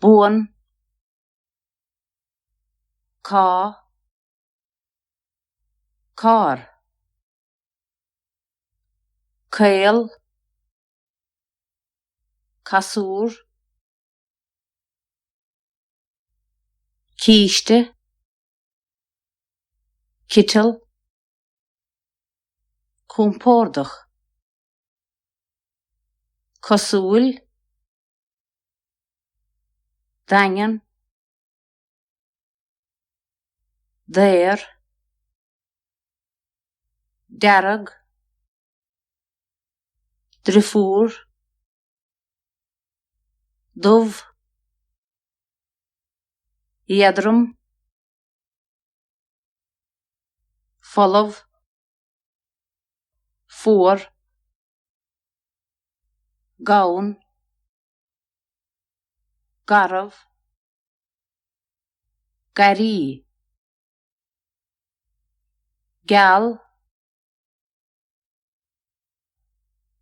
buan cá cár caol casúr císte citeal compordach cosúil, daingean, daor, dearg, driofúr, dubh, éadrom, folamh, fuar, gann, garbh, garraí, geal,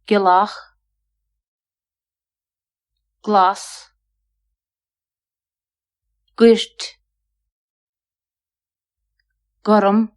gealach, glas, goirt, gorm.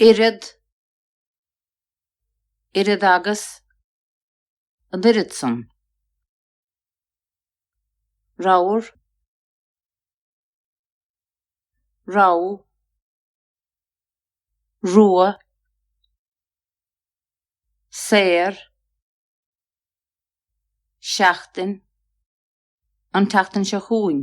oiread, oiread agus, an oiread san, ramhar, rogha, rua, saor, seachtain, an tseachtain seo chugainn.